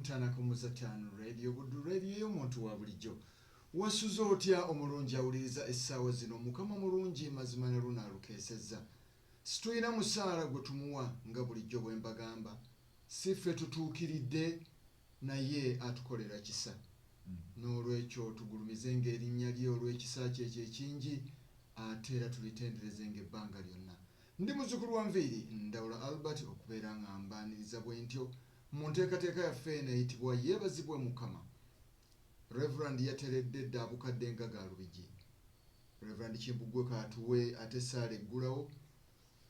Ntanako Muzatan Radio Buddu Radio y'omuntu wa bulijjo. Wasuze otya omulungi awuliriza essaawa zino Mukama mulungi mazima ne luno alukeesezza. Situlina musaala gwe tumuwa nga bulijjo bwe mbagamba. Si ffe tutuukiridde naye atukolera kisa. n'olwekyo tugulumizenga erinnya lye olw'ekisa kye ekyo ekingi ate era tulitenderezenga ebbanga lyonna ndi muzukulu wa nviiri ndawula albert okubeera nga mbaaniriza bwe ntyo Mu nteekateeka yaffe eno eyitibwa Yeebazibwe Mukama, Rev. Yateredde dda abukadde nga ga Lubigi. Rev. Kimbugwe kaatuwe ate essaala eggulawo,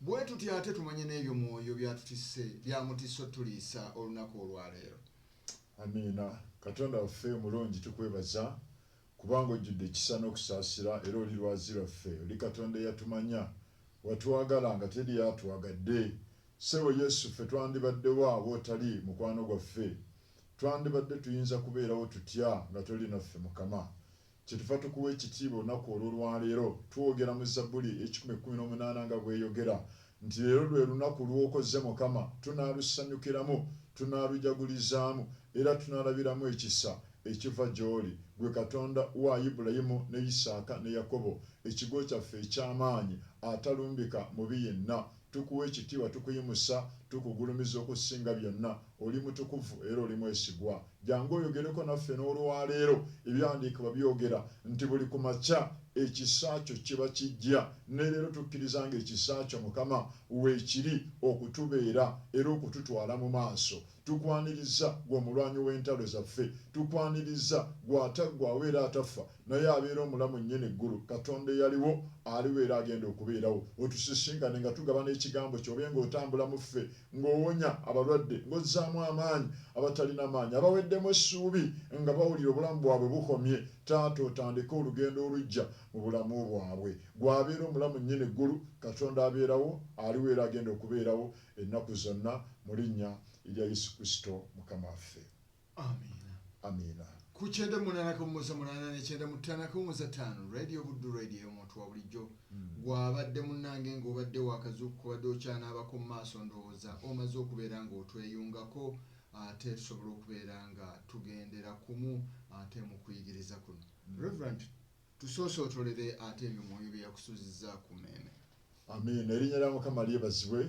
bwe tutyo ate tumanye n'ebyo Mwoyo by'atutisse by'amutisse otutuliisa olunaku olwaleero. Amiina. Katonda waffe omulungi tukwebaza Kubanga ojjudde ekisa n'okusaasira, era oli Lwazi lwaffe, oli Katonda eyatumanya. Watwagala nga teri atwagadde. Ssebo Yesu, ffe twandibadde wa w'otali, Mukwano gwaffe? Twandibadde tuyinza kubeerawo tutya nga toli naffe, Mukama? Kyetuva tukuwa ekitiibwa olunaku olw'olwaleero, twogera mu Zabbuli ekikumi ekkumi n'omunaana nga bw'eyogera, Nti leero lwe lunaku lw'okoze Mukama, tunaalusanyukiramu, tunaalujagulizaamu, era tunaalabiramu ekisa ekiva gy'oli, ggwe Katonda wa Ibulayimu, ne Isaaka, ne Yakobo, ekigo kyaffe eky'amaanyi, atalumbika mubi yenna. Tukuwa ekitiibwa, tukuyimusa, tukugulumiza okusinga byonna. Oli mutukuvu era oli mwesigwa. Jangu oyogereko naffe n'olwaleero. Ebyawandiikibwa byogera nti buli ku makya ekisa kyo kiba kijja. Ne leero tukkiriza nga ekisa kyo, Mukama, weekiri okutubeera era okututwala mu maaso. Tukwanirizza, Ggwe Omulwanyi w'entalo zaffe. Tukwanirizza, Ggwe ataggwaawo era atafa, naye abeera omulamu nnyini ggulu, Katonda eyaliwo, aliwo era agenda okubeerawo. Otusisinkane nga tugabana Ekigambo kyo, obe nga otambula mu ffe ng'owonya abalwadde, ng'ozzaamu amaanyi abatalina maanyi, abaweddemu essuubi nga bawulira obulamu bwabwe bukomye, Taata otandike olugendo oluggya mu bulamu bwabwe. Ggwe abeera omulamu Nnyini Ggulu, Katonda abeerawo, aliwo era agenda okubeerawo ennaku zonna, mu Linnya lya Yesu Kristo Mukama waffe. Amiina. Amiina. Ku kyenda munaana kawummuza munaana ne kyenda mu ttaano akawummuza ttaano Radio Buddu Radio ey'omuntu wa bulijjo hmm. gw'abadde munnange ng'obadde waakazuukuka obadde okyanaabako mu maaso ndowooza omaze okubeera ng'otweyungako ate tusobola okubeera nga tugendera kumu ate mu kuyigiriza kuno. Hmm. Reverend Tusoose otolere ate ebyo mwoyo byeyakusuzizza ku meeme. Amiina erinnya lya mukama lyebazibwe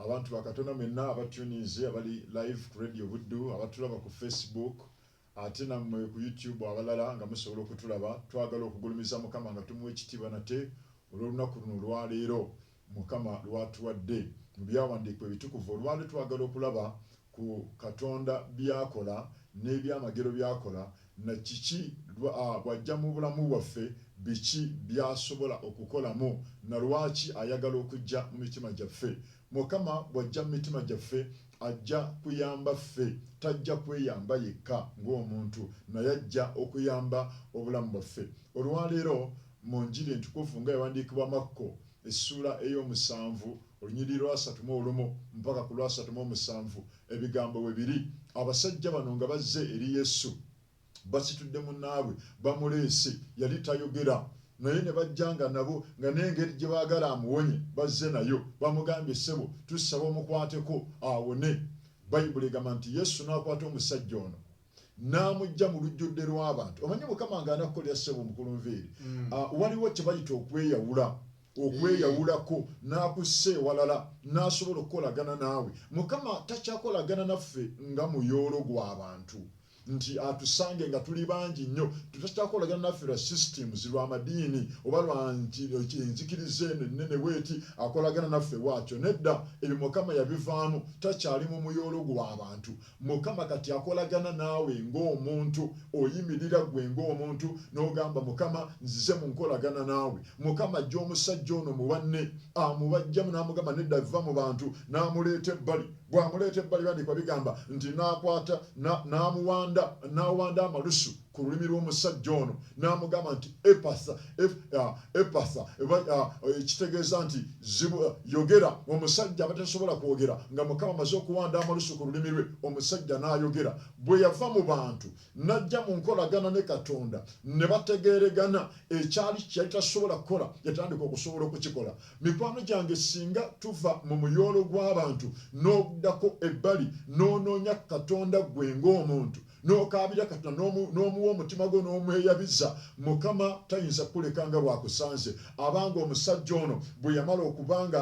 abantu ba katonda mwenna aba tuninze abali live ku radio buddu abatulaba ku face book ate nammwe ku YouTube abalala nga musobola okutulaba twagala okugulumiza mukama nga tumuwa ekitiibwa nate olw'olunaku luno olwaleero Mukama lw'atuwadde mu byawandiikibwa ebitukuvu. Olwaleero twagala okulaba ku Katonda by'akola n'ebyamagero by'akola na kiki bw'ajja mu bulamu bwaffe biki by'asobola okukolamu na lwaki ayagala okujja mu mitima gyaffe. Mukama bw'ajja mu mitima gyaffe ajja kuyamba ffe. Tajja kweyamba yekka ng'omuntu naye ajja okuyamba obulamu bwaffe. Olwaleero. mu Njiri entukuvu nga ewandiikibwa Makko essuula ey'omusanvu olunyiriri lw'asatu mu olumu mpaka ku lw'asatu mu omusanvu ebigambo we biri, Abasajja bano nga bazze eri Yesu, basitudde munnaabwe, bamuleese, yali tayogera, naye ne bajja nga nabo, nga n'engeri gye baagala amuwonye bazze nayo. Bamugambye, Ssebo, tusaba omukwateko awone. Bayibuli egamba nti, Yesu n'akwata omusajja ono. n'amujja mu lujjudde lw'abantu omanyi mukama nga anakukolera ssebo omukulu nviiri mm. ah, waliwo kye bayita okweyawula okweyawulako n'akussa ewalala n'asobola okukolagana naawe mukama takyakolagana naffe nga muyoolo gw'abantu nti atusange nga tuli bangi nnyo tutakyakolagana naffe lwa systems lwa madiini oba lwa enzikiriza eno ennene bweti akolagana naffe waakyo nedda ebyo mukama yabivaamu takyali mu muyoolo gw'abantu Mukama kati akolagana naawe ng'omuntu, oyimirira ggwe ng'omuntu n'ogamba, Mukama, nzize mu nkolagana naawe. Mukama aggya omusajja ono mu banne, amubaggyamu n'amugamba, Nedda, vva mu bantu, n'amuleeta ebbali. Bw'amuleeta ebbali, Ebyandiikibwa bigamba nti, N'akwata, n'amuwanda, n'awanda amalusu. ku lulimi lw'omusajja ono n'amugamba nti epasa epasa ekitegeeza nti yogera omusajja abatasobola kwogera nga mukama amaze okuwanda amalusu ku lulimi lwe omusajja n'ayogera bwe yava mu bantu n'ajja mu nkolagana ne katonda ne bategeeregana ekyali kyeyali tasobola kukola yatandika okusobola okukikola mikwano gyange singa tuva mu muyoolo gw'abantu n'oddako ebbali n'onoonya katonda gwe ng'omuntu n'okaabira katonda n'omuwa omutima gwo n'omweyabiza mukama tayinza kukuleka nga bwakusanze abanga omusajja ono bwe yamala okuba nga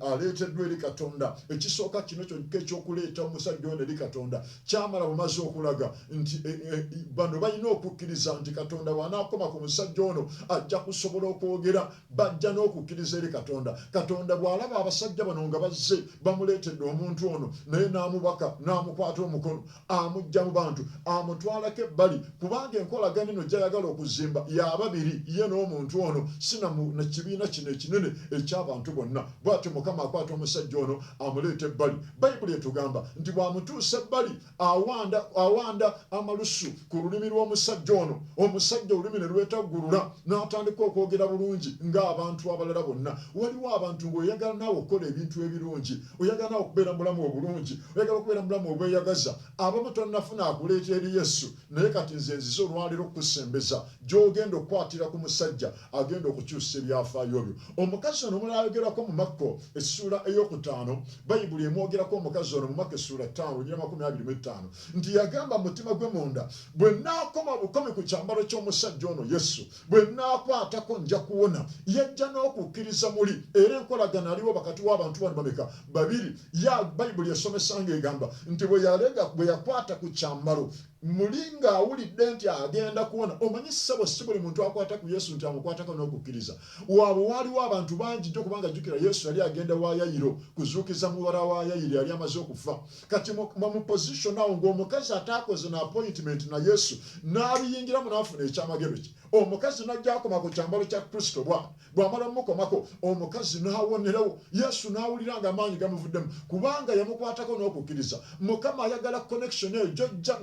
aleeteddwa eri katonda ekisooka kino kyonka ekyokuleeta omusajja ono eri katonda kyamala bumaze okulaga nti e, e, bano balina okukkiriza nti katonda wanaakoma ku musajja ono ajja kusobola okwogera bajja n'okukkiriza eri katonda katonda bw'alaba abasajja bano nga bazze bamuleetedde omuntu ono naye n'amubaka n'amukwata omukono amujja mu bantu amutwalako ebbali kubanga enkolagana eno gyayagala okuzimba yababiri ye n'omuntu ono sinamu na kibiina kino ekinene eky'abantu bonna bwatyo mukama akwata omusajja ono amuleeta ebbali bayibuli etugamba nti bw'amutuusa ebbali awanda awanda amalusu ku lulimi lw'omusajja ono omusajja olulimi ne lwetaggulula n'atandika okwogera bulungi ng'abantu abalala bonna waliwo abantu ng'oyagala naawe okukola ebintu ebirungi oyagala nawe okubeera mubulamu obulungi oyagala okubeera mubulamu obweyagaza abamu tonafuna akuleeta eri yesu naye kati nze nzize olwaleero okukusembeza gyogenda okukwatira ku musajja agenda okukyusa ebyafaayo byo omukazi ono omulala ayogerako mu makko essuula eyokutaano bayibuli emwogerako omukazi ono mu makko essuula ttaano onyira makumi abiri mu ettaano nti yagamba mutima gwe munda bwe naakoma bukomi ku kyambalo ky'omusajja ono yesu bwe nnaakwatako nja kuwona. Yajja n'okukkiriza muli, era enkolagana aliwo wakati w'abantu bano bameka? Babiri. Ya, Bayibuli esomesa nga egamba nti bwe yalega, bwe yakwata ku kyambalo, muli ng'awulidde nti agenda kuwona. Omanyi, ssebo, si buli muntu akwata ku Yesu nti amukwatako n'okukkiriza. Waabwe waaliwo abantu bangi nnyo, kubanga jjukira, Yesu yali agenda wa Yayiro kuzuukiza muwala wa Yayiri eyali amaze okufa. kati nga mu position awo ngaomukazi ataakoze na appointment na yesu n'abiyingiramu n'afuna ekyamagero kye omukazi najja akoma ku kyambalo kya kristo bwa bwamala mumukomako omukazi n'awonerewo yesu n'awulira nga amaanyi gamuvuddemu kubanga yamukwatako n'okukkiriza mukama ayagala connection eyo jojja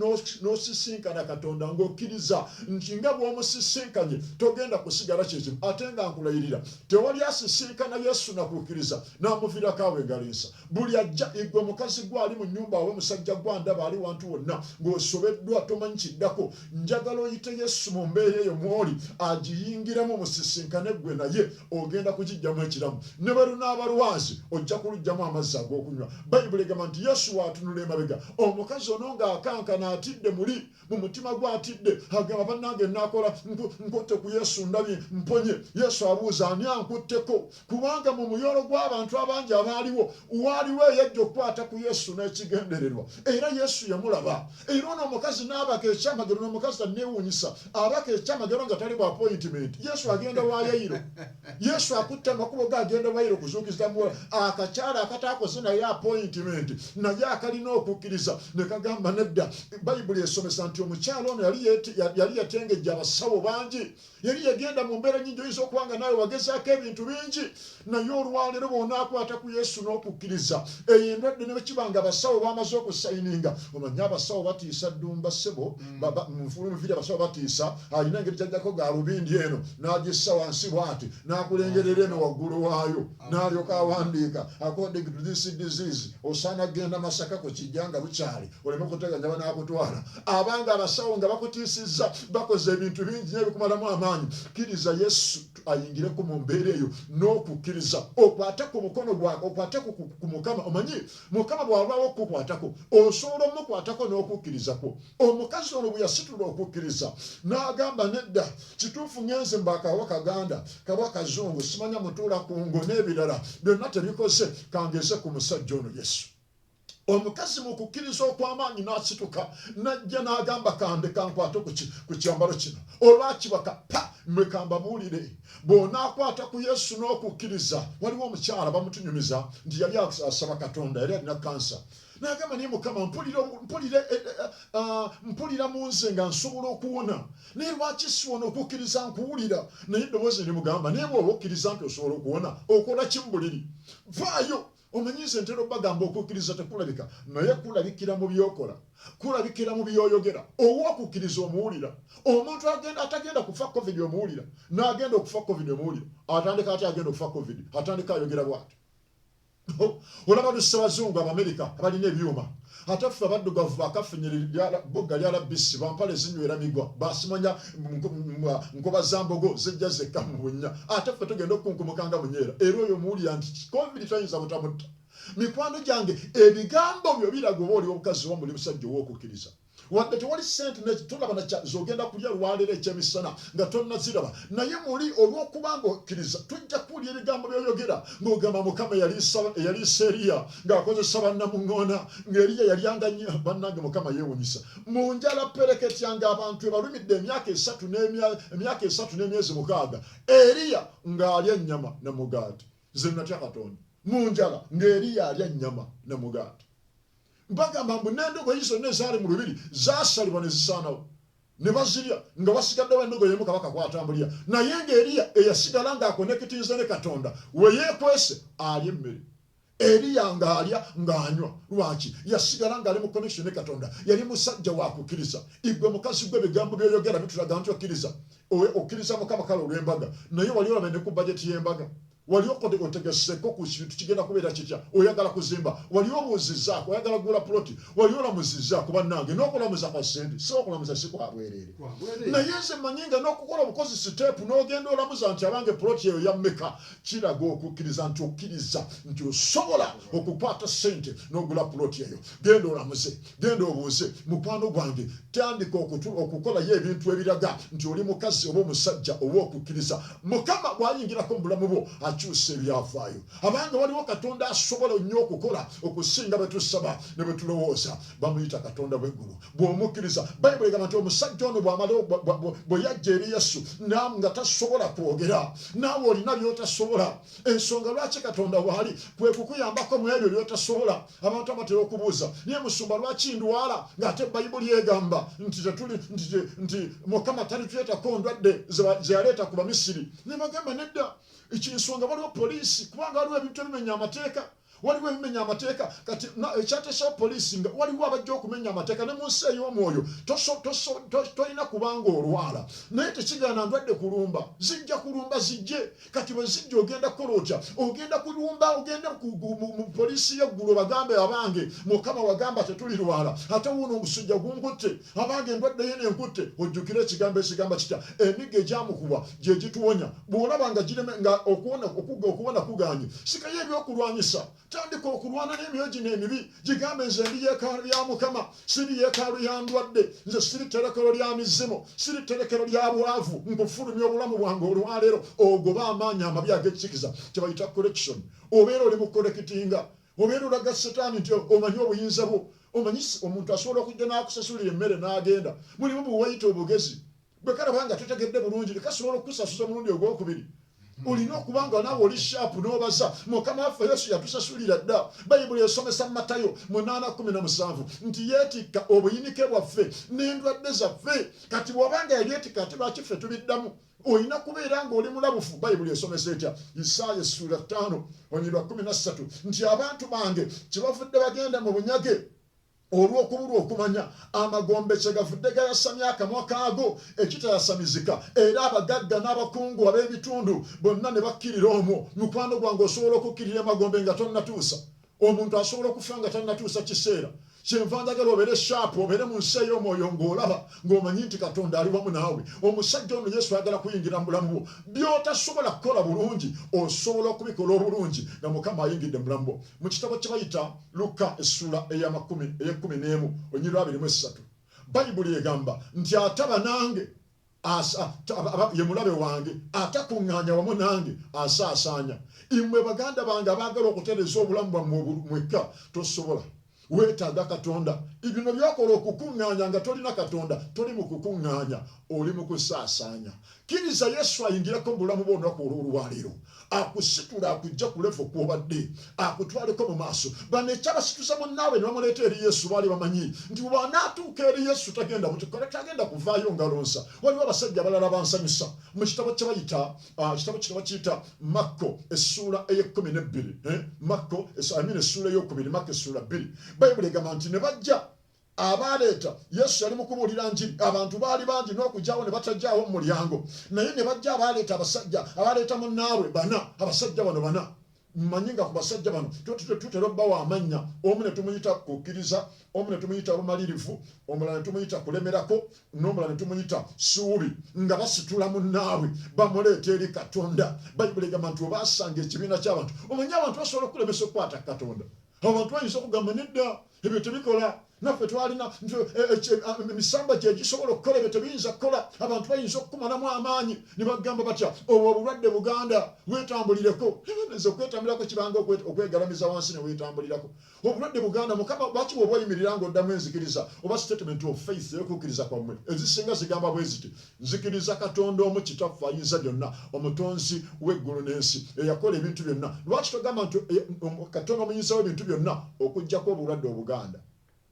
n'osisinkana katonda ng'okkiriza nti nga bw'omusisinkanye togenda kusigala kyekimu ate nga nkulayirira tewali asisinkana yesu nakukkiriza n'amuviirako awo engalinsa buli ajja egwe mukazi gwe ali mu nyumba awe musajja gwe andaba ali wantu wonna ng'osobeddwa tomanyi kiddako njagala oyite yesu mu mbeera eyo mwoli agiyingiramu musisinkane gwe naye ogenda kugijjamu ekiramu ne bwe lunaaba lwazi ojja kulugjamu amazzi ag'okunywa bayibuli egamba nti yesu waatunula emabega omukazi ono ng'akankana atidde muli mu mutima gwe atidde agamba bannange nakola nkutte ku yesu ndabye mponye yesu abuuza ani ankutteko kubanga mu muyolo gw'abantu abangi abaaliwo waaliwo eyajja okukwata ku yesu n'ekigendererwa era yesu yamulaba era ono omukazi n'abaka ekyamagero n'omukazi tanneewuunyisa abaka ekyamagero nga tali bwa appointment yesu agenda wa yayiro Yesu akutte amakubo ge agenda bayira okuzuukiza muwola akakyala akataakoze naye apointimenti naye akalina okukkiriza ne kagamba nedda bayibuli esomesa nti omukyala ono yali yatengejja abasawo bangi yali yagenda mu mbeera nyingi oyinza okuba nga naawe wagezaako ebintu bingi naye olwaleero bwonaakwata ku yesu n'okukkiriza eyo endwadde ne bwekiba nga abasawo bamaze okusayininga omanye abasawo batiisa ddumba ssebo mufulu mufiri abasawo batiisa alina engeri kyajjako galubindi eno n'agissa wansi bwati n'akulengerera eno waggulu waayo n'alyoka awandiika according to this disease osaana genda masaka ku kijja nga bukyali oleme kuteganya banaakutwala abanga abasawo nga bakutiisizza bakoze ebintu bingi nyo ebikumalamu amaanyi kkiriza yesu ayingireku mu mbeera eyo n'okukkiriza okwate ku mukono gwa okwate ku mukama omanyi Mukama bw'alwawo okukukwatako, osobola omukwatako n'okukkiriza kwo. Omukazi ono bwe yasitula okukkiriza n'agamba, nedda, kituufu ngenze mu bakaawa Kaganda, kaba Kazungu, simanya mutuula ku ngo n'ebirala byonna tebikoze, kangeze ku musajja ono Yesu. omukazi mu kukkiriza okw'amaanyi n'asituka n'ajja n'agamba kande kankwate ku kyambalo kino olwakibaka pa mwe kambabuulire bw'onaakwata ku yesu n'okukkiriza waliwo omukyala bamutunyumiza nti yali asaba katonda yali alina kansa nagamba naye mukama mpulira eh, eh, eh, ah, mu nze nga nsobola okuwona naye lwaki siwona okukkiriza nkuwulira naye eddoboozi rimugamba naye bwoba okkiriza nti osobola okuwona okola ki mu buliri vaayo Omanyi nze ntera obagamba okukkiriza tekulabika naye kulabikira mu byokola, kulabikira mu byoyogera. Ow'okukkiriza omuwulira. Omuntu agenda atagenda kufa covid omuwulira, n'agenda okufa covid omuwulira. Atandika atya agenda okufa covid? Atandika ayogera bw'ati. Olaba lussa Bazungu Abamerika abalina ebyuma ate ffe abaddugavu bakafinyirira bugga lya labisi bampale zinywera migwa basimanya nkoba za mbogo zijja zekka mu bunnya ate ffe tugenda okukunkumuka nga munyeera era oyo muwulira nti covid tayinza butamutta mikwano gyange ebigambo byo biraga oba oli omukazi oba muli musajja ow'okukkiriza wadde tewali sente netulaba zogenda kulya lwaleero ekyemisana nga tonaziraba naye muli olw'okuba nga okkiriza tujja kuwulya ebigambo byoyogera ng'ogamba mukama eyaliisa eriya ng'akozesa bannamuŋŋoona ng'eriya yalyanga nnyo bannange mukama yeewunyisa mu njala pereketya ng'abantu ebalumidde emyaka esatu emyaka esatu n'emyezi mukaaga eriya ng'alya ennyama ne mugaati ze natya katonda mu njala ng'eriya alya ennyama ne mugaati bagamba mbu n'endogoyi zonna ezaali mu lubiri zaasalibwa ne zisaanawo ne bazirya nga basigaddewo endogo yemu kabaka kwatambulira naye ng'eriya eyasigala ng'akonekitinze ne katonda we yeekwese alya emmere Eriya ng'alya ng'anywa. Lwaki? Yasigala ng'ali mu connection ne Katonda. Yali musajja wa kukkiriza. Igwe mukazi gwe ebigambo by'oyogera bitulaga nti okkiriza. Okkiriza Mukama kale olw'embaga. Naye wali olabye ne ku bajeti y'embaga? Wali okode otegeseko ku kintu kigenda kubeera kitya? Oyagala kuzimba? Wali obuuzizzaako? Oyagala kugula puloti? Wali olamuzizzaako? Bannange, n'okulamuza kwa ssente, si okulamuza si kwa bwereere. Naye nze mmanyi nga n'okukola obukozi siteepu n'ogenda olamuza nti abange puloti eyo ya mmeka? kiraga okukkiriza nti okkiriza nti osobola okukwata sente n'ogula puloti eyo genda olamuze genda obuuze mukwano gwange tandika okukolayo ebintu ebiraga nti oli mukazi oba omusajja oba okukkiriza mukama bwayingirako mu bulamu bwo akyusa ebyafaayo abanga waliwo katonda asobola nnyo okukola okusinga bwe tusaba ne bwe tulowooza bamuyita katonda bw'eggulu bw'omukkiriza bayibuli egamba nti omusajja ono bwamala bwe yajja eri yesu nam nga tasobola kwogera naawe olina byotasobola ensonga lwaki katonda waali kwe kukuyambako mu ebyo byotasobola abantu abatera okubuuza naye musumba lwaki ndwala ng'ate bayibuli egamba nti tetuli nti mukama talituyetako ndwadde zeyaleeta ku bamisiri ne bagamba nedda ekinsonga waliwo poliisi kubanga waliwo ebintu ebimenya amateeka waliwo ebimenya amateeka kati ekyateesawo poliisi nga waliwo abajja okumenya amateeka ne mu nsi ey'omwoyo tolina kubanga olwala naye tekigaana ndwadde kulumba zijja kulumba zijje kati bwe zijja ogenda kukola otya ogenda kulumba ogenda mu poliisi y'eggulu bagambe abange mukama wagamba tetulirwala ate wuuno omusujja gunkutte abange endwadde yene enkutte ojjukire ekigambo ekigamba kitya emigo egyamukuba gye gituwonya bwolaba nga gireme nga okuwona okugga okuwona kuganye sikayo ebyokulwanyisa tandika okulwana n'emyoyo gino emibi gigambe nze ndi yeekaalu ya mukama siri yeekaalu ya ndwadde nze siri tterekero lya mizimu siri tterekero lya bwavu nkufulumya obulamu bwange olwaleero ogoba amaanyi amabi ag'ekikikiza kyebayita collection obeera oli mu kolekitinga obeera olaga setaani nti omanyi obuyinza bwo omanyi omuntu asobola okujja n'akusasulira emmere n'agenda mulimu buwayita obugezi gwe kalaba nga totegedde bulungi nekasobola okukusasuza omulundi ogwokubiri olina okuba nga naawe oli shaapu n'obaza mukama waffe yesu yatusasulira dda bayibuli esomesa mu matayo munaana kumi na musanvu nti yeetikka obuyinike bwaffe n'endwadde zaffe kati bw'oba nga yabyetikka ati lwaki ffe tubiddamu olina kubeera ng'oli mulabufu bayibuli esomesa etya isaaya essuula ttaano onyirwa kumi na ssatu nti abantu bange kyebavudde bagenda mu bunyage olw'okubulwa okumanya amagombe kyegavudde gayasamya akamwa kaago ekitayasamizika era abagagga n'abakungu ab'ebitundu bonna ne bakkirira omwo. Mukwano gwange osobola okukkirira emagombe nga tonnatuusa? Omuntu asobola okufa nga tannatuusa kiseera. Kyenva njagala obeere shaapu, obeere mu nsi ey'omwoyo ng'olaba, ng'omanyi nti Katonda ali wamu naawe. Omusajja ono Yesu ayagala kuyingira mu bulamu bwo. By'otasobola kukola bulungi osobola okubikola obulungi nga Mukama ayingidde mu bulamu bwo. Mu kitabo kye bayita Lukka essuula ey'amakumi ey'ekkumi n'emu olunyiriri lw'abiri mu essatu, Bayibuli egamba nti, Ataba nange asa, aba, ye mulabe wange, atakuŋŋaanya wamu nange asaasaanya. Imwe baganda bange abaagala okutereeza obulamu bwammwe mwekka, tosobola. Weetaaga Katonda. Ibino by'okola okukuŋŋaanya nga tolina Katonda, toli mu kukuŋŋaanya, oli mu kusaasaanya. kkiriza yesu ayingireko mubulamu bwo olunaku olwolwaleero akusitula akujja ku levo kwobadde akutwaleko mu maaso bano ekyabasituza munnaabwe ne bamuleeta eri yesu baali bamanyi nti bwanaatuuka eri yesu tagenda mutukole tagenda kuvaayo ngalonsa waliwo abasajja abalala bansanyusa mu kitabo kyebayita ah, kitabo kino bakiyita makko essuula eyekumi nebbiri eh, makko amin essuula eyokubiri makko essuula bbiri bayibuli egamba nti ne bajja abaaleeta Yesu yali mu kubuulira njiri. Abantu baali bangi n'okugyawo ne batagyawo mu mulyango, naye ne bajja abaaleeta abasajja abaaleeta munnaabwe bana. Abasajja bano bana mmanyi nga ku basajja bano tutera obbawa amannya, omu ne tumuyita kukkiriza, omu ne tumuyita bumalirivu, omulala ne tumuyita kulemerako, n'omulala ne tumuyita suubi, nga basitula munnaabwe bamuleeta eri Katonda. Bayibuli egamba nti obaasanga ekibiina ky'abantu. Omanyi abantu basobola okukulemesa okukwata Katonda. abantu bayinza okugamba nedda ebyo tebikola naffe twalina emisamba gyegisobola okukola ebyo tebiyinza kukola abantu bayinza okukumalamu amaanyi ne bagamba batya obwo obulwadde buganda wetambulireko nze okwetambulirako kibanga okwegalamiza wansi newetambulirako obulwadde buganda mukama lwaki woba oyimirira nga oddamu enzikiriza oba statement of faith eyokukkiriza kwammwe ezisinga zigamba bweziti Nzikiriza Katonda omu Kitaffe Ayinza byonna, Omutonzi w'eggulu n'ensi, eyakola ebintu byonna. Lwaki togamba nti Katonda Omuyinza w'ebintu byonna okuggyako obulwadde obuganda?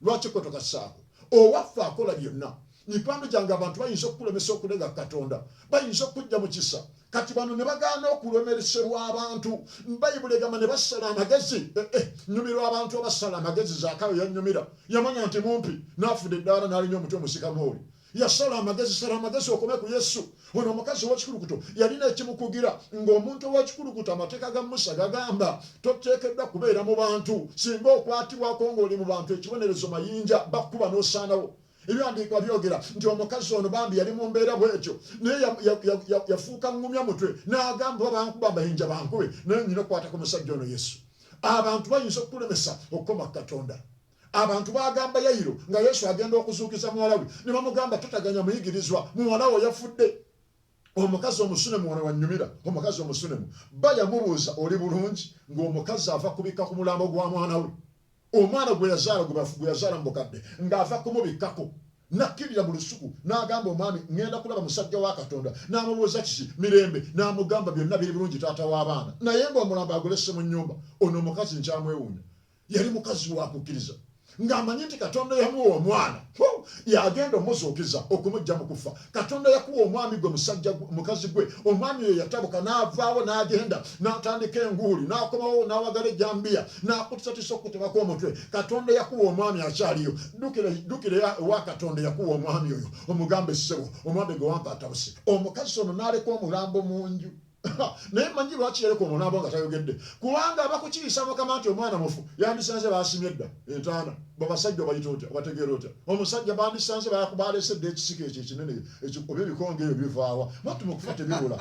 Lwaki kwe tokassaako? Owaffe akola byonna. Mikwano gyange, abantu bayinza okukulemesa okulega Katonda. Bayinza okukujja mu kisa. Kati bano ne bagaana okulemereserwa abantu. Bayibuli egamba ne basala amagezi. Eh, eh, nyumirwa abantu abasala amagezi. Zaakayo yanyumira. Yamanya nti mumpi. N'afuda eddaala n'alinya omutwe musika mooli. yasala amagezi sala amagezi okome ku yesu ono omukazi owekikulukuto yalina ekimukugira ng'omuntu owekikulukuto amateeka ga musa gagamba toteekeddwa kubeera mu bantu singa okwatibwako ng'oli mu bantu ekibonerezo mayinja bakkuba n'osaanawo ebyandiikwa byogera nti omukazi ono bambi yali mu mbeera bwetyo naye yafuuka ngumya mutwe n'agamba oba bankuba mayinja bankube naye nyina okukwata ku musajja ono yesu abantu bayinza okukulemesa okukoma ku katonda Abantu baagamba Yayiro nga Yesu agenda okuzuukiza muwala we ne bamugamba, Totaganya muyigirizwa, muwala wo yafudde. Omukazi omusunemu wano wannyumira. Omukazi omusunemu bba yamubuuza, Oli bulungi? Ng'omukazi ava kubikka ku mulambo gwa mwana we, omwana gwe yazaala gwe yazaala mu bukadde, ng'ava kumubikkako n'akkirira mu lusuku n'agamba omwami, ŋŋenda kulaba musajja wa Katonda. N'amubuuza kiki? Mirembe. N'amugamba, Byonna biri bulungi taata w'abaana, naye ng'omulambo agulesse mu nnyumba. Ono omukazi nkyamwewuunya. yali mukazi wa kukkiriza ng'amanyi nti katonda yamuwa omwana yagenda omuzuukiza okumujja mu kufa katonda yakuwa omwami gwe musajja mukazi gwe omwami oyo yatabuka n'avaawo n'agenda n'atandika enguuli n'akomawo n'awagala ejambiya n'akutisatisa okukutemako omutwe katonda yakuwa omwami akyaliyo dukira ewa katonda yakuwa omwami oyo omugamba essebo omwami gwe wampa atabuse omukazi ono n'aleka omulambo mu nju naye manyi lwaki yaleka ono naaba nga tayogedde kubanga abakukiyisa mukama nti omwana mufu yandisanze basimye edda entaana babasajja obayita otya obategeera otya omusajja bandisanze balese dda ekisika ekyo ekinene oba ebikonge ebyo bivaawa matu mukufa tebibula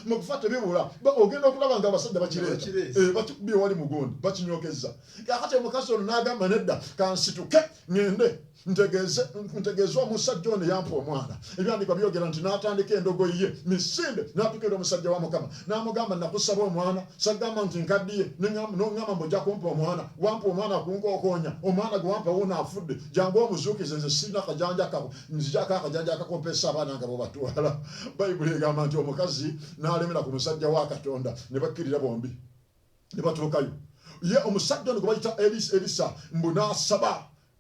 mukufa tebibula ogenda okulaba nga abasajja bakireeta eh, bakibi ewali mugundi bakinyokezza kakati omukazi ono nagamba nedda kansituke ngende ntegeeze omusajja ono yampa omwana ebyandikwa byogera nti n'atandika endogoyi ye misinde n'atukira omusajja wa mukama n'amugamba nakusaba omwana sagamba nti nkaddiye nongamba mbuja kumpa omwana wampa omwana kunkokoonya omwana gwe wampa wuuno afudde jangu omuzuukize nze sirina kajanja kako nzijako akajanja akakompesa abaana nga bwebatwala bayibuli egamba nti omukazi n'alemera ku musajja wa katonda ne bakkirira bombi ne batuukayo ye omusajja ono gwe bayita elisa mbu n'asaba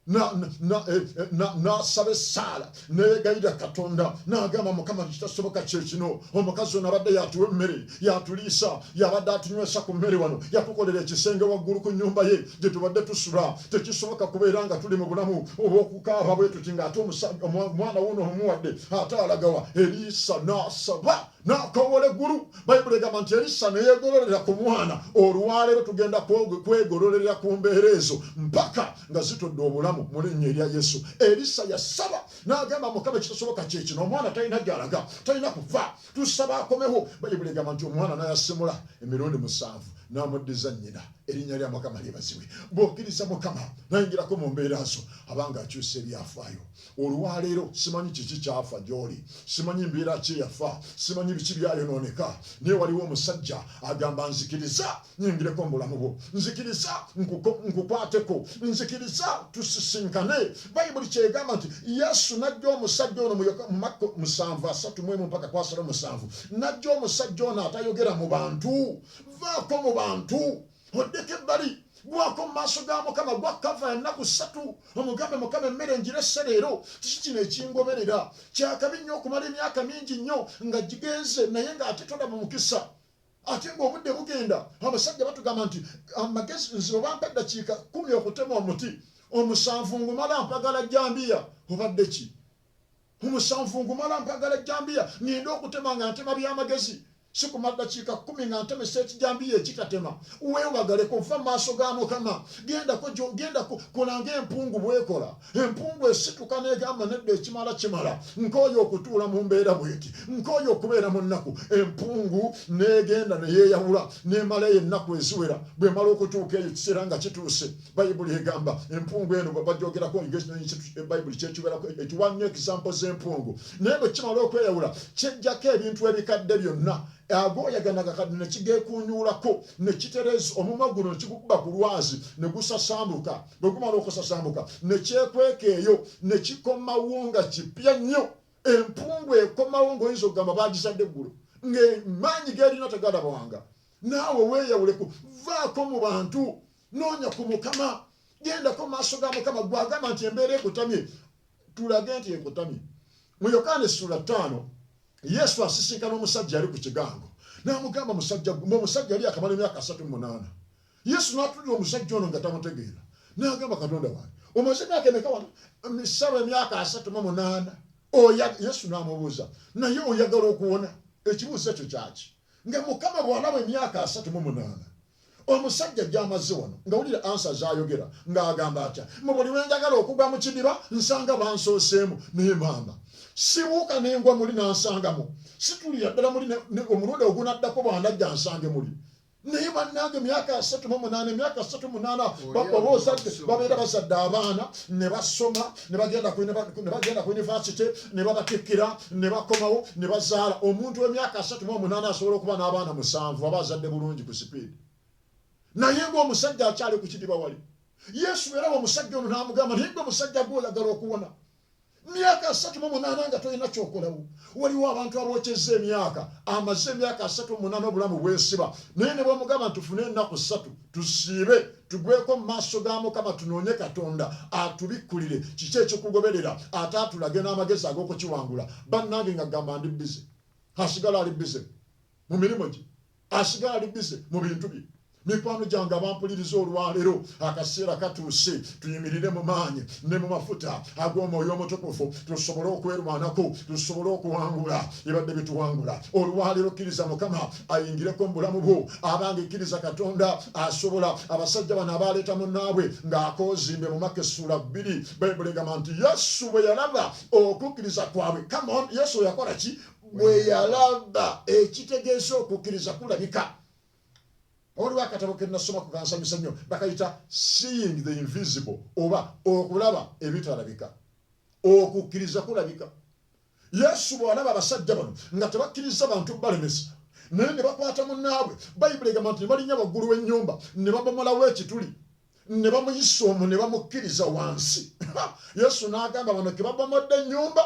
n'asaba essaala neyegayirira katonda n'agamba mukama kitasoboka kyekino omukazi ono abadde yatuwa emmere yatuliisa yabadde atunywesa ku mmere wano yatukolera ekisenge waggulu ku nyumba ye gye tubadde tusula tekisoboka kubeera nga tuli mu bulamu obwokukaaba bwe tuti ng'ate omwana wuno omuwadde ate alagawa eriisa n'asaba n'akowola eggulu bayibuli egamba nti erisa neyegololera ku mwana olwaleero tugenda kwegololera ku mbeera ezo mpaka nga zitodde obulamu mu linnya erya yesu erisa yasaba n'agamba mukama ekitasoboka kyekino omwana talina gyalaga talina kufa tusaba akomewo bayibuli egamba nti omwana nayasimula emirundi musanvu n'amuddiza nnyina erinnya lya mukama lyebazibwe bwokiriza mukama nayingirako mu mbeera zo abanga akyusa ebyafaayo olwaleero simanyi kiki kyafa gyoli simanyi mbeera ki eyafa simanyi biki byayonooneka naye waliwo omusajja agamba nzikiriza nyingireko mu bulamu bwo nzikiriza nkukwateko nzikiriza tusisinkane bayibuli kyegamba nti yesu najja omusajja ono mumakko musanvu asatu mwemu mpaka kwasala omusanvu najja omusajja ono atayogera mu bantu vaako mu bantu oddeko ebbali gwako mu maaso ga mukama gwa kava ya nnaku ssatu omugambe mukama emmere njirese leero kiki kino ekingoberera kyakabi nnyo okumala emyaka mingi nnyo nga gigenze naye ng'ate tolaba mukisa ate ngaobudde bugenda abasajja batugamba nti amagezi nze obampa eddakiika kumi okutema omuti omusanvu ngumala mpagala jambiya obadde ki Mu musanvu ngumala mpagala jjambiya ŋŋende okutema nga ntema bya magezi. Sikuma ddakiika kkumi nga ntemesa ekijambiya ekitatema. Weewagaleko, vva mu maaso ga Mukama. Gendako gyo, gendako. Kola nga empungu bw'ekola. Empungu esituka n'egamba, Nedda, ekimala kimala. Nkooye okutuula mu mbeera bw'eti. Nkooye okubeera mu nnaku. Empungu n'egenda ne yeeyawula, n'emala eyo ennaku eziwera. Bw'emala okutuuka eyo, ekiseera nga kituuse. bayibuli egamba empungu eno bagyogerako bayibuli kyekiwerako ekiwa nnyo ekisampo z'empungu naye bwe kimala okweyawula kyejjako ebintu ebikadde byonna agooyaganaga kati ne kigekunyuulako ne kitereza omumwa guno ne kigukuba ku lwazi ne gusasambuka bwe gumala okusasambuka ne kyekweka eyo ne kikomawo nga kipya nnyo empungu ekomawo ng'oyinza okugamba baagizadde eggulu ng'emaanyi g'erina tegalabwanga naawe weeyawuleko vaako mu bantu noonya ku mukama gendako maaso ga mukama gwagamba nti embeera ekutamye tulage nti ekutamye mu yokaana essula ttaano yesu asisinkana omusajja ali ku kigango namugamba musajja gumba omusajja ali akamala emyaka asatu munaana yesu natulira omusajja ono nga tamutegeera nagamba katonda wange omaze emyaka emeka wano misaba emyaka asatu mu munaana yesu namubuuza naye oyagala okuwona ekibuuzo ekyo kyaki nga mukama bwalaba emyaka asatu mu munaana Omusajja gy'amazze wano nga wulira ansa z'ayogera ng'agamba atya mu buli lwe njagala okugwa mu kidiba nsanga bansooseemu naye maama sibuuka ne ngwa muli n'ansangamu situlira ddala muli omulundi ogunaddako bw'anajja nsange muli naye bannange myaka asatu mu munaana emyaka asatu munaana oba ozadde babeera bazadde abaana ne basoma ne bagenda ku yunivasite ne babatikkira ne bakomawo ne bazaala omuntu w'emyaka asatu mu omunaana asobola okuba n'abaana musanvu aba azadde bulungi ku sipiidi naye ng'omusajja akyali ku kidiba wali yesu yalaba omusajja ono n'amugamba naye gwe musajja gwe oyagala okuwona myaka asatu mu munaana nga tolina kyokolawo waliwo abantu abokyeza emyaka amaze emyaka asatu munana obulamu bwesiba naye ne bwemugamba ntufune ennaku ssatu tusiibe tugweko mu maaso ga mukama tunoonye katonda atubikkulire kiki ekikugoberera ate atulage n'amagezi ag'okukiwangula bannange nga gamba ndi bize asigala ali bize mu mirimu gye Asigala ali busy mu bintu bye. Mikwano gyange abampuliriza olwaleero, akaseera katuuse tuyimirire mu maanyi ne mu mafuta ag'omwoyo omutukufu, tusobole okwerwanako, tusobole okuwangula ebadde bituwangula. Olwaleero kkiriza Mukama ayingireko mu bulamu bwo, abange kkiriza Katonda asobola. Abasajja bano abaaleeta munnaabwe ng'akoozimbe mu Maka essuula bbiri, Bayibuli egamba nti Yesu bwe yalaba okukkiriza kwabwe. Come on, Yesu yakola ki? bwe yalaba ekitegeeza okukkiriza kulabika waliwo akatabo ke nasoma ku kansanyusa nnyo bakayita seeing the invisible oba okulaba ebitalabika okukkiriza kulabika yesu bw'alaba abasajja bano nga tebakkiriza bantu balemesa naye ne bakwata munnaabwe bayibuli egamba nti ne balinya waggulu w'ennyumba ne babomolawo ekituli ne bamuyisa omwo ne bamukkiriza wansi yesu n'agamba bano ke babomodde ennyumba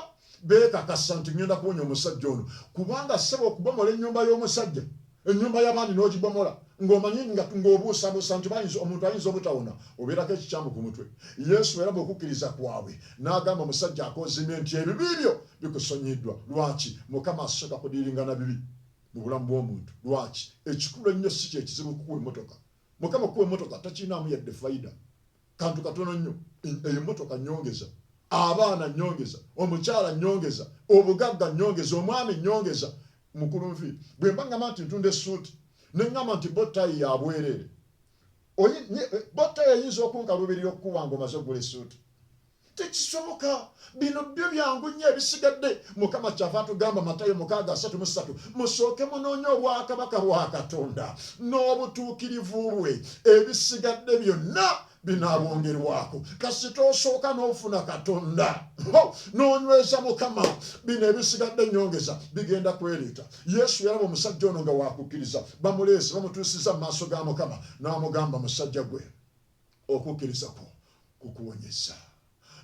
beekakasa nti ŋŋenda kuwonya omusajja ono kubanga ssebo okubomola ennyumba y'omusajja ennyumba y'abandi n'ogibomola ng'omanyi ng'obuusabuusa nti bayinza omuntu ayinza obutawona obeerako ekikyamu ku mutwe yesu era bw'okukkiriza kwabwe n'agamba omusajja akoozimye nti ebibi byo bikusonyiddwa lwaki mukama asooka kudiiringana bibi mu bulamu bw'omuntu lwaki ekikulu ennyo si kyekizibu kukuwa emmotoka Mukama kuwa emotoka takinaamu yadde faida kantu katono nnyo eyo emotoka nyongeza abaana nyongeza omukyala nyongeza obugagga nyongeza omwami nyongeza mukulu nfi bwemba ngamba nti ntunda esuuti nengamba nti botayi yabwereere botayi eyinza okunkaluubirira okukuwanga omaze okugula esuuti tekisoboka bino byo byangu nnyo ebisigadde mukama kyava atugamba matayo mukaaga asatu mu ssatu musooke munoonya obwakabaka bwa katonda n'obutuukirivu bwe ebisigadde byonna binaabongerwako kasita osooka n'ofuna katonda n'onyweza mukama bino ebisigadde nyongeza bigenda kwereeta yesu yalaba omusajja ono nga wakukkiriza bamuleese bamutuusiza mu maaso ga mukama n'amugamba musajja gwe Okukkiriza kwo kukuwonyezza.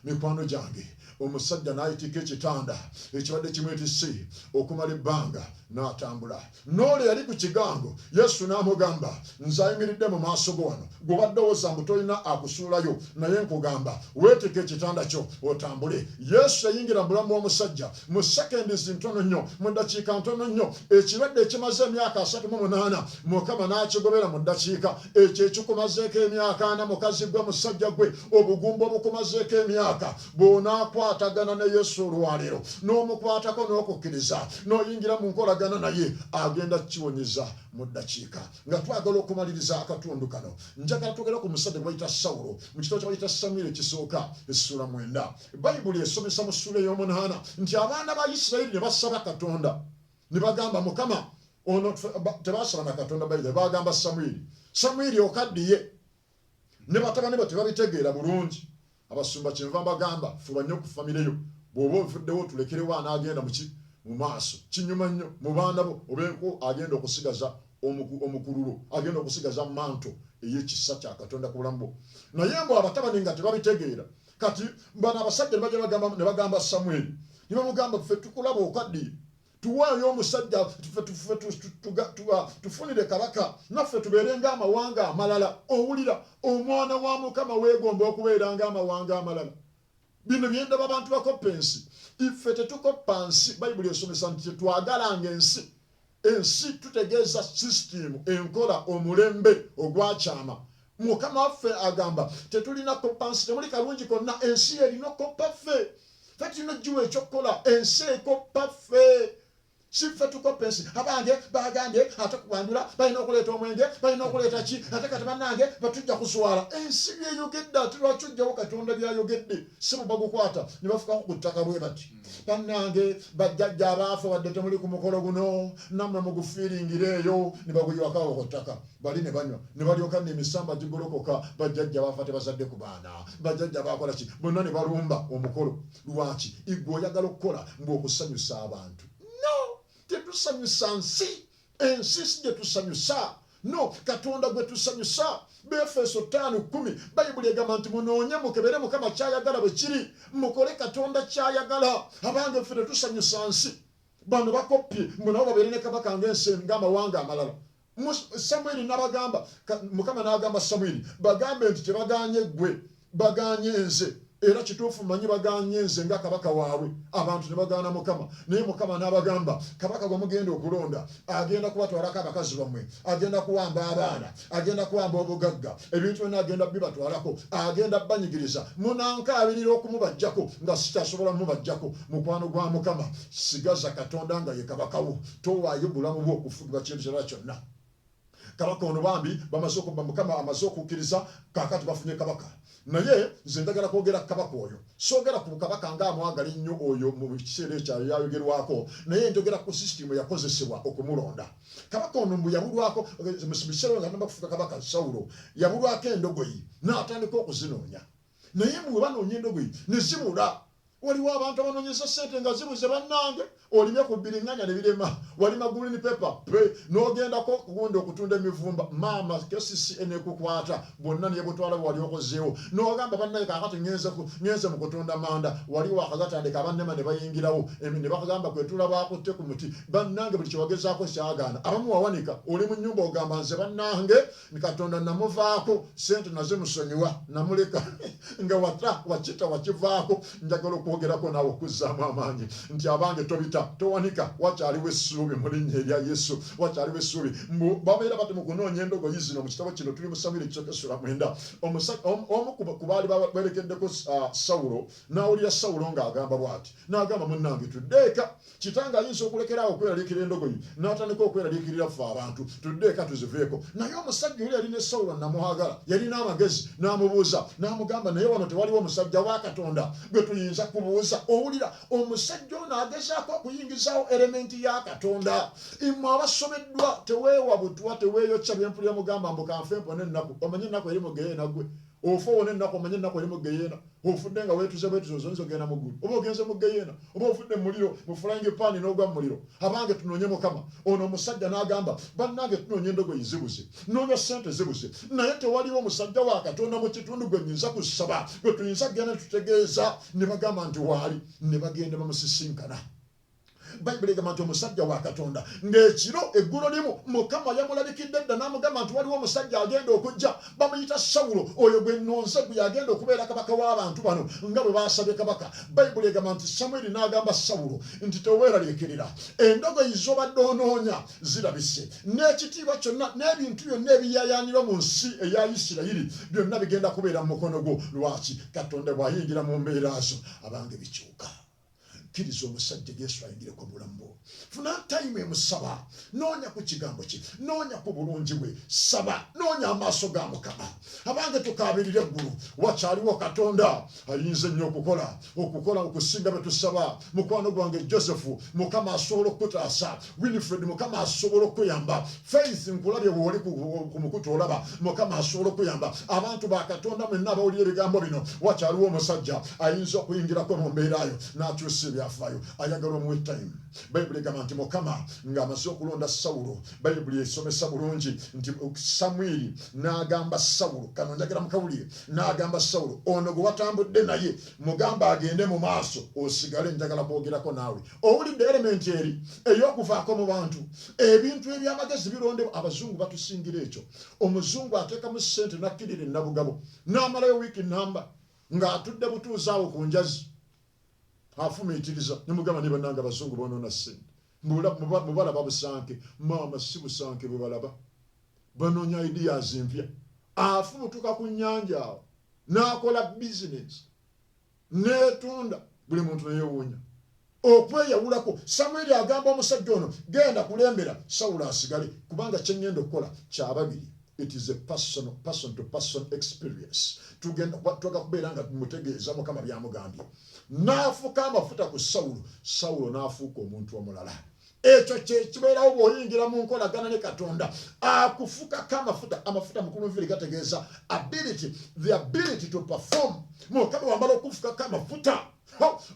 Mikwano gyange, omusajja n'ayitika ekitanda ekibadde kimwetisse okumala ebbanga, n'atambula. N'olwo eyali ku kigango, Yesu n'amugamba, Nze ayimiridde mu maaso go wano. Ggwe obadde owoza mbu tolina akusuulayo, naye nkugamba, weetike ekitanda kyo otambule. Yesu yayingira mu bulamu bw'omusajja mu sekendizi ntono nnyo mu ddakiika ntono nnyo ekirwadde ekimaze emyaka asatu mu munaana mukama n'akigobera mu ddakiika ekyo ekikumazeeko emyaka ana mukazi gwe musajja gwe obugumba obukumazeeko emyaka bw'onaakwatagana ne yesu olwaleero n'omukwatako n'okukkiriza n'oyingira mu nkolagana naye agenda kukiwonyeza mu ddakiika nga twagala okumaliriza akatundu kano njagala twogera ku musajja gwebayita sawulo mu kitabo kyebayita samwiri ekisooka essuula mwenda Bayibuli esomesa mu ssuula ey'omunaana nti abaana ba Isirayiri ne basaba Katonda ne bagamba, Mukama, ono tebaasaba na Katonda bayira, baagamba Samwiri, Samwiri okaddiye. Ne batabani bo tebabitegeera bulungi. Abasumba kyenva mbagamba, fuba nnyo ku famire yo. Bw'oba ovuddewo tulekerewo anaagenda mu ki mu maaso. Kinyuma nnyo mu baana bo obeeko agenda okusigaza omukululo, agenda okusigaza manto ey'ekisa kya Katonda ku bulamu bwo. Naye mbu abatabani nga tebabitegeera, kati bano abasajja ne bajja bagamba ne bagamba samweri ne bamugamba ffe tukulaba okaddiye tuwaayo omusajja tufunire kabaka naffe tubeere ng'amawanga amalala owulira omwana wa mukama weegomba okubeera ng'amawanga amalala bino byendaba abantu bakoppa ensi iffe tetukoppa nsi bayibuli esomesa nti tetwagalanga ensi Ensi tutegeeza sisitiimu, enkola, omulembe ogwakyama. Mukama waffe agamba, Tetulina koppa nsi, temuli kalungi konna. Ensi y'erina okukoppa ffe. Ffe tulina okugiwa eky'okukola, ensi ekoppa ffe. Si ffe tukoppa ensi. Abange baagambye ate kuwanjula, balina okuleeta omwenge, balina okuleeta ki, ate kati bannange batujja kuswala. Ensi by'eyogedde, ate lwaki ojjawo Katonda by'ayogedde? Ssebo bagukwata ne bafukako ku ttaka bwe bati. bannange bajjajja abaafa wadde temuli ku mukolo guno nammwe mugufiiringira eyo ne baguyiwakawo ku ttaka bali ne banywa ne balyoka ne emisamba gigolokoka bajjajja baafa tebazadde ku baana bajjajja baakola ki bonna ne balumba omukolo lwaki igwe oyagala okukola mbu okusanyusa abantu no tetusanyusa nsi Ensi si gye tusanyusa. No, Katonda gwe tusanyusa. Befeso ttaano kkumi, Bayibuli egamba nti, Munoonye mukebere Mukama ky'ayagala bwe kiri, mukole Katonda ky'ayagala. Abange, ffe tetusanyusa nsi. Bano bakoppye, mbu nabo babeere ne kabaka ng'ensi, ng'amawanga amalala. Mu, Samwiri n'abagamba, Mukama n'agamba Samwiri, Bagambe nti, Kye bagaanye ggwe, Bagaanye nze, era kituufu mmanyi bagaanye nze nga kabaka waabwe. Abantu ne bagaana Mukama. Naye Mukama n'abagamba, Kabaka gwe mugenda okulonda agenda kubatwalako abakazi bammwe, agenda kuwamba abaana, agenda kuwamba obugagga, ebintu byonna agenda bibatwalako, agenda banyigiriza. Munankaabirira okumubaggyako nga sikyasobola mubaggyako. Mukwano gwa Mukama, sigaza Katonda nga ye kabaka wo. Towaayo bulamu bwo kufugibwa kintu kirala kyonna. kabaka ono bambi bamaze okubba mukama amaze okukkiriza kakati bafunye kabaka naye nze njagala kwogera kabaka oyo soogera ku kabaka nga amwagala ennyo oyo mu kiseera ekyayo yayogerwako naye njogera ku sisitimu yakozesebwa okumulonda kabaka ono mbu yabulwako eh, mukiseera nga namba kufuka kabaka sawulo yabulwako endogoyi n'atandika okuzinoonya Naye mbu webanoonya endogoyi nezibula. Waliwo abantu abanonyeza ssente nga zibuze banange olimye ku biringanya nebirema walima green paper pe nogendako kugundi okutunda emivumba maama kcca nekukwata bwonna nebutwala bwewali okozeewo nogamba bannaye kakati ngenze ngenze mu kutunda manda wali wakagatandika abannema nebayingirawo nebakugamba kwetula bakutte ku muti bannange buli kyewagezaako kyagaana abamu wawanika oli mu nyumba ogamba nze bannange ni katonda namuvaako sente naze musonyiwa namuleka nga wata wakita wakivaako njagala okwogerako naawe okuzzaamu amaanyi nti abange tobita towanika wakyaliwo essuubi mu linnya erya yesu wakyaliwo essuubi mbu babeera bati mu kunoonya endogoyi zino mu kitabo kino tuli mu samwiri ekisooka essula mwenda omu ku baali bawerekeddeko sawulo n'awulira sawulo ng'agamba bw'ati n'agamba munnange tudde eka Kitange ayinza okulekera awo okweraliikirira endogoyi n'atandika okweraliikirira ffe abantu. Tudde eka tuziveeko. Naye omusajja oli yali ne Sawulo nnamwagala. Yalina amagezi. N'amubuuza. N'amugamba, Naye wano tewaliwo musajja wa Katonda gwe tuyinza kubuuza? Owulira? Omusajja ono agezaako okuyingizaawo erementi ya Katonda. Mmwe abasobeddwa, teweewa butwa, teweeyokya bye mpulira mugamba mbu ka nfe mpone ennaku. Omanyi ennaku eri mu ggeyeena ggwe? Ofa owone ennaku, omanye ennaku eri mu ggeyeena. Ofudde nga weetuze bwetuzi, ozze oyinza okugenda mu ggulu oba ogenze mu ggeyeena. Oba ofudde mu muliro, mu flying pan n'ogwa mu muliro. Abange tunoonye Mukama. Ono omusajja n'agamba, Bannange tunoonya endogoyi zibuze, nnoonya ssente zibuze, naye tewaliwo musajja wa Katonda mu kitundu gwe nnyinza kusaba, gwe tuyinza kugenda ne tutegeeza ne bagamba nti waali. Ne bagenda ne bamusisinkana. bayibuli egamba nti omusajja wa katonda ng'ekiro eggulo limu mukama yamulabikidde dda n'amugamba nti waliwo omusajja agenda okujja bamuyita sawulo oyo gwe nonze gwe yagenda okubeera kabaka w'abantu bano nga bwe baasabye kabaka bayibuli egamba nti samwiri n'agamba sawulo nti teweeraliikirira endogoyi z'obadde onoonya zirabise n'ekitiibwa kyonna n'ebintu byonna ebiyayaanirwa mu nsi eya isirayiri byonna bigenda kubeera mu mukono gwo lwaki katonda bw'ayingira mu mbeera zo abange bikyuka kkiriza omusajja yesu ayingireko obulamu bwo funa time emusaba noonya ku kigambo kye noonya ku bulungi bwe saba noonya amaaso ga mukama abange tukaabirira eggulu wakyaliwo katonda ayinza ennyo okukola okukola okusinga bwe tusaba mukwano gwange joseph mukama asobola okukutaasa winifred mukama asobola okuyamba faith nkulabye wooli ku mukutu olaba mukama asobola okuyamba abantu bakatonda mwenna abawulira ebigambo bino wakyaliwo omusajja ayinza okuyingirako mu mbeerayo n'akyusa ebyafaayo ayagala omuwe time bayibuli egamba nti mukama ng'amaze okulonda sawulo bayibuli esomesa bulungi nti samwiri n'agamba sawulo kano njagala mukawulire n'agamba sawulo ono gwe watambudde naye Mugambe agende mu maaso osigale njagala kwogerako naawe. Owulidde elementi eri ey'okuvaako mu bantu. Ebintu eby'amagezi birondebwa. Abazungu batusingira ekyo. Omuzungu ateekamu ssente n'akkirira e Nabugabo n'amalayo wiiki nnamba ng'atudde butuuzi awo ku njazi afumiitiriza ne mugamba naye bannange abazungu boonoona ssente. Mbu balaba busanke. Maama si busanke bwe balaba. Banoonya ideas empya. Afulutuka ku nnyanja awo n'akola bizinensi n'etunda, buli muntu ne yeewuunya okweyawulako. Samwiri agamba omusajja ono, genda kulembera Sawulo asigale, kubanga kye ŋŋenda okukola kya babiri. It is a personal, person to person experience. Tugenda twaga kubeera nga mutegeeza Mukama byamugambye. N'afuka amafuta ku Sawulo, Sawulo n'afuuka omuntu omulala. ekyo kyekibeerawo bwoyingira mu nkolagana ne katonda akufukako amafuta amafuta mukulunviri gategeeza ability the ability to perform mukama wamala okufukako amafuta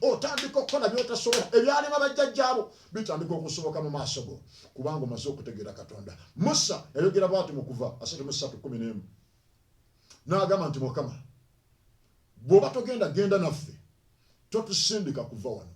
otandika okukola byotasobola ebyalema bajjajjaabo bitandika okusoboka mu maaso go kubanga omaze okutegeera katonda musa yayogera bwati mukuva asatu musatu kumi nemu n'agamba nti mukama bw'oba togenda genda naffe totusindika kuva wano